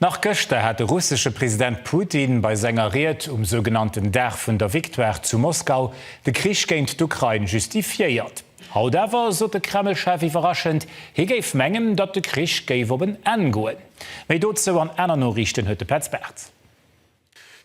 Nach gëschter hat de russesche President Putin bei senger Ried um sougenannten Dag vun der Victoire zu Moskau de Krich géint d'Ukrain justifiéiert. Haut awer sot de Kreml-Chef iwwerraschend, hie géif mengen, datt de Krich géif op en Enn goen. Méi dozou an aner Noriichten huet de Petz Bartz.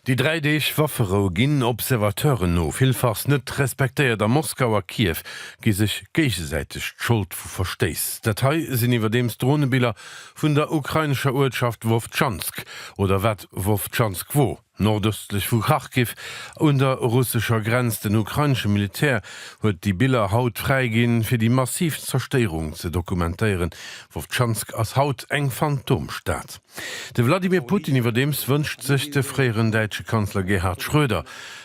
Déi dräi Deeg Wafferou ginn Observateuren no villfachs net respektéiert a Moskau a Kiew gi sech géigesäiteg d'Schold vu Verstéiss. Dat hei sinn iwwerdeems Dronebiller vun der ukrainescher Uertschaft Wowtschansk, oder wat Wowtschansk wor, nordëstlech vu Kharkiv un der russescher Grenz. Den ukrainesche Militär huet déi Biller haut fräiginn, fir déi massiv Zerstéierung ze dokumentéieren. Wowtschansk ass haut eng Phantomstad. De Wladimir Putin iwwerdeems wënscht sech de fréieren däitsche Kanzler Gerhard Schröder,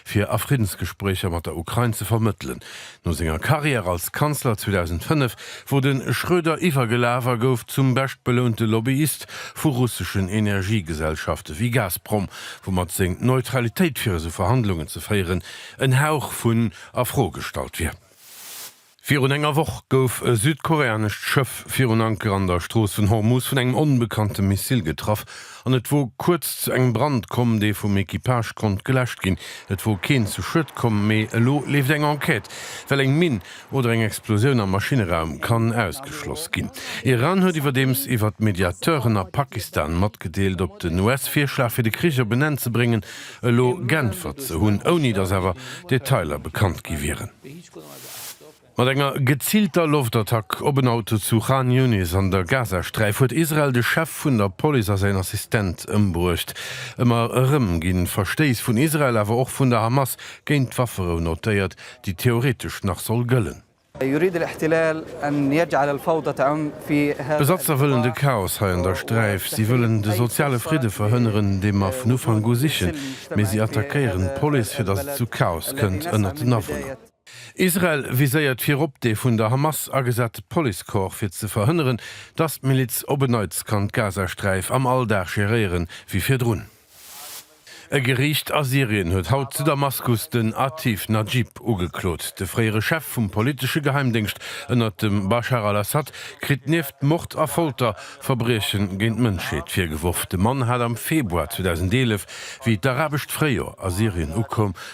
fir a Friddensgespréicher mat der Ukrain ze vermëttelen. No senger Karriär als Kanzler 2005 wor de Schröder iwwergelaf a gouf zum beschtbelounte Lobbyist vu russeschen Energiegesellschafte wéi Gazprom, woumat seng Neutralitéit fir esou Verhandlungen ze féieren en Hauch vun a Fro gestallt wier. Virun enger Woch gouf e südkoreanescht Schëff virun Anker an der Strooss vun Hormuz vun engem onbekannte Missil getraff an et wor kuerz zu engem Brand komm, dee vum Equipage konnt geläscht ginn. Et wor keen zu Schued komm, mee elo leeft eng Enquête, well eng Minn oder eng Explosioun am Maschinneraum kann ausgeschloss ginn. Iran huet iwwerdeems iwwert Mediateuren a Pakistan matgedeelt, op den US-Virschlag fir de Krich op en Enn ze bréngen elo g'äntwert ze hunn, ouni datt awer Detailer bekannt gi wieren. Mat enger gezilter Loftattack op en Auto zu Khan Younis an der Gazasträif huet Israel de Chef vun der Police a säin Assistent ëmbruecht. Ëmmer erëm gi Verstéiss vun Israel, awer och vun der Hamas géint d'Wafferou notéiert, déi theoretesch nach soll gëllen. D'Besatzer wëllen de Chaos hei an der Sträif. Si wëllen de soziale Fridde verhënneren, dee mer vun Ufank u sichen, mee si attackéieren d'Police, fir datt et zu Chaos kënnt ënnert den Awunner. Israel viséiert virop dee vun der Hamas agesate Policecorps, fir ze verhënneren, datt d'Miliz op en Neits kann d'Gazasträif am Alldag geréieren, wéi virdrun. E Geriicht a Syrien huet haut zu Damaskus den Atif Najib ugeklot. De fréiere Chef vum politesche Geheimdéngscht ënnert dem Baschar al-Assad kritt nieft Mord a Folter, Verbrieche géint d'Mënschheet virgeworf. De Mann hat am Februar 2011, wéi d'Arabescht Fréijoer a Syrien ukoum,